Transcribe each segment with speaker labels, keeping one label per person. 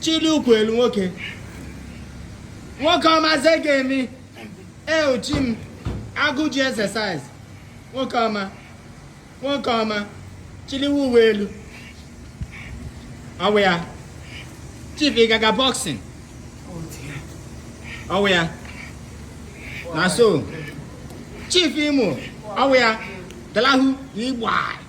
Speaker 1: chilie ụkwụ elu nwoke nwoke ọma ze ga-eme eh gym agụ ji exercise nwoke ọma nwoke ọma chiliwe uwe elu ọ wụ ya chief ị ga-aga boxing ọ wụ ya na so chief imo ọ wụ ya dalahu igbo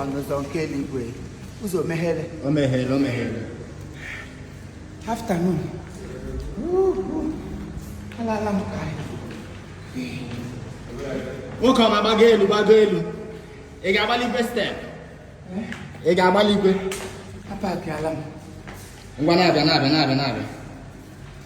Speaker 2: ọnụ ụzọ nke eluigwe ụzọ meghere o meghere o meghere afternoon alala m ka
Speaker 1: nwoke ọma gbago elu gbago elu ị ga-agbalikwe step eh? ị ga-agbalikwe apakịala
Speaker 2: m ngwa na-abịa
Speaker 1: na-abịa na-abịa na-abịa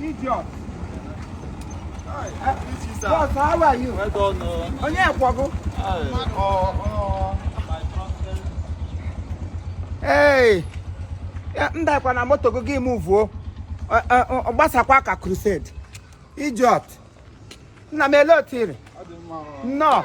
Speaker 2: Idiot. Boss, how are you? I
Speaker 3: don't know.
Speaker 2: Onye kwọga? Hey! Ya, m dakwa na moto gị gị move o. Ọ- ọ- ọ- Ọ gbasakwa ka crusade. Idiot. Nna m ele otu ị rị. Nnọọ.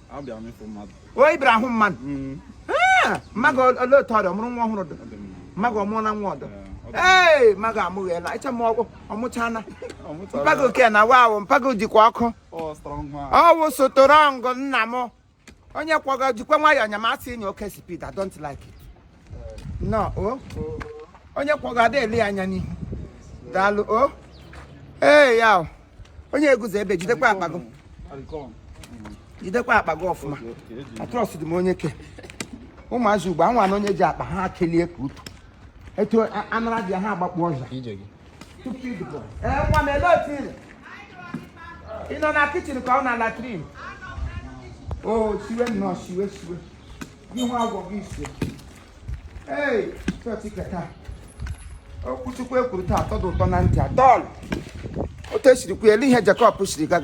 Speaker 2: Abịa m ịfụ mmadụ. O ị bịara ịhụ mmadụ? Mm. Ah, Mma gị ọ- olee otu ọ dị? Ọ mụrụ nwa ọhụrụ dị? Ọ dị mma. Mma gị ọ mụọla nwa ọdọ? Ee, ọ dị Ee, mma gị amụghịela. Ịcha m ọgwụ, ọ mụchaala. mma. Ọ mụtara. Mpa gị oke na wa ahụ, mpa gị jikwa ọkụ. Ọ strong man. Ọ wụ strong nna m. Onye kwọga jikwa nwayọọ nya ma a sị nye oke speed, I don't like it. nnọọ onye kwọga ada ele anya n'ihu daalụ o ee ya onye eguzo ebe jidekwa akpa gị jidekwa akpa gị ọfụma atrust dị m onye ke ụmụazị ugbu a nwa na onye ji akpa ha kelie ka utu etu anara dị ha agbakpọ ọsọ nwa m ele otu ị rị ị nọ na kichin ka ọ na latrin o siwe nnọọ siwe siwe ihe agụ gị isi ee chọọchị ke taa okwu chukwu e kwuru taa atọ dị ụtọ na ntị at all otu e siri kwuo ele ihe Jacob siri gaga